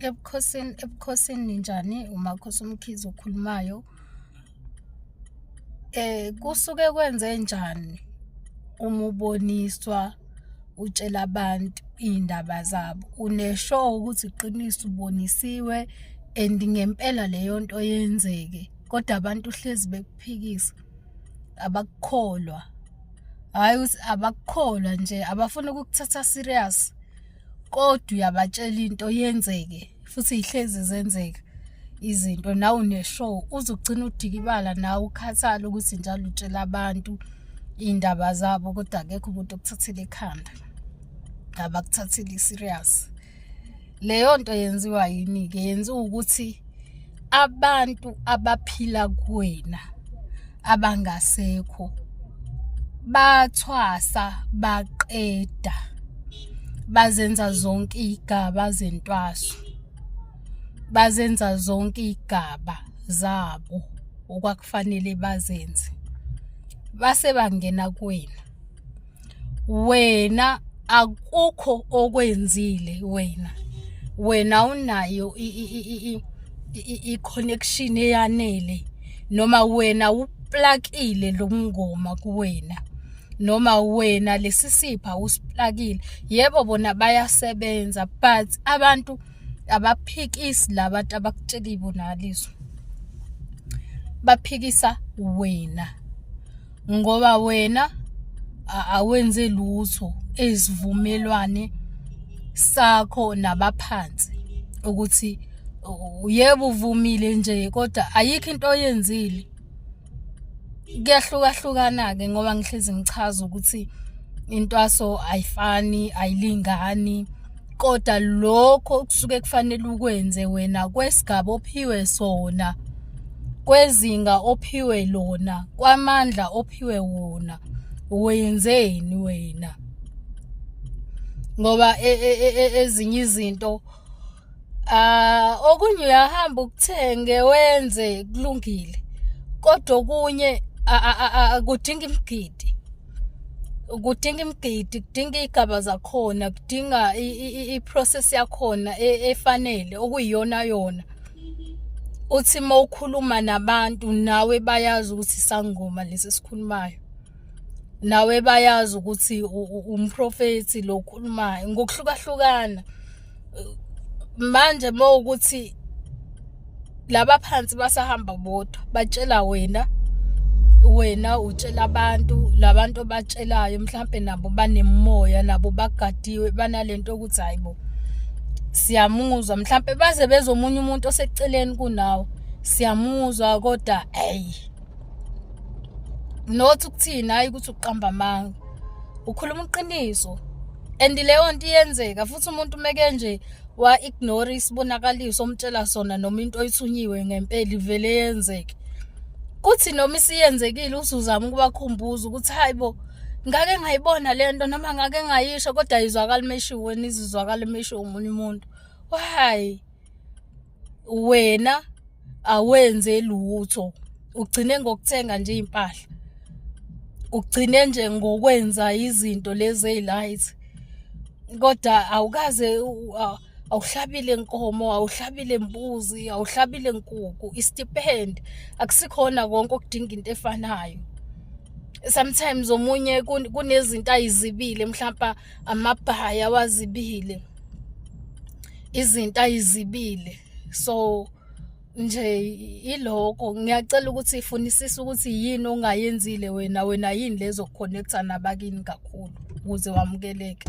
ebukhosini ebukhosini ninjani umakhosi umkhize okhulumayo eh kusuke kwenze njani uma uboniswa utshela abantu iy'ndaba zabo unesho ukuthi iqiniso ubonisiwe and ngempela leyo nto yenzeke kodwa abantu hlezi bekuphikisa abakukholwa hhayi ukuthi abakukholwa nje abafuna ukukuthatha serious kodwa uyabatshela into yenzeke futhi ihlezi zenzeka izinto nawe uneshow uzogcina udikibala nawe ukhathala ukuthi njalo utshela abantu iy'ndaba zabo kodwa akekho umuntu okuthathela ekhanda abakuthatheli serious leyo nto yenziwa yini-ke yenziwa ukuthi abantu abaphila kuwena abangasekho bathwasa baqeda bazenza zonke igaba zentwaso bazenza zonke igaba zabo okwakufanele bazenze base bangena kuwena wena akukho okwenzile wena wena unayo i-connection eyanele noma wena uplakile lo mngoma kuwena noma wena lesisipha usiplakile yebo bona bayasebenza but abantu abaphikisi labantu abakutshela ibonaliso baphikisa wena ngoba wena awenze lutho ezivumelwane sakho nabaphansi ukuthi yebo uvumile nje kodwa ayikho into oyenzile kuyahlukahlukana-ke ngoba ngihlezi ngichaza ukuthi intwaso ayifani ayilingani koda lokho kusuke kufanele ukwenze wena kwesigaba ophiwe sona kwezinga ophiwe lona kwamandla ophiwe wona wenzeni wena ngoba e, e, e, ezinye izinto ah okunye uyahamba ukuthenge wenze kulungile kodwa okunye kudinga imigidi kudinga imigidi kudinga iy'gaba zakhona kudinga i-process yakhona e, efanele okuyiyona yona uthi uma ukhuluma nabantu nawe bayazi ukuthi sangoma lesi sikhulumayo nawe bayazi ukuthi umprofethi lo okhulumayo ngokuhlukahlukana manje uma ukuthi laba phansi basahamba bodwa batshela wena wena utshela abantu labantu obatshelayo mhlambe nabo banemoya nabo bagadiwe banalento ukuthi hayibo siyamuzwa mhlambe baze bezomunye umuntu oseceleni kunawo siyamuzwa kodwa hey not ukuthina hayi ukuthi uqamba amanga ukhuluma iqiniso and leyo nto iyenzeka futhi umuntu umeke nje wa-ignore isibonakaliso omtshela sona noma into oyithunyiwe ngempela ivele yenzeke kuthi noma isiyenzekile usuzama ukubakhumbuza ukuthi hayi bo ngake ngayibona le nto noma ngake ngayisho kodwa ayizwakali meshiwe nizizwakali meshiwe omunye umuntu why wena awenze lutho ugcine ngokuthenga nje impahla ugcine nje ngokwenza izinto lezi ezilayithi kodwa awukaze awuhlabile nkomo awuhlabile mbuzi awuhlabile nkuku istipend akusikhona konke okudinga into efanayo sometimes omunye kunezinto ayizibile mhlawumbe amabhaya wazibile izinto ayizibile so nje iloko ngiyacela ukuthi ifunisise ukuthi yini ongayenzile wena wena yini lezo connecta nabakini kakhulu ukuze wamukeleke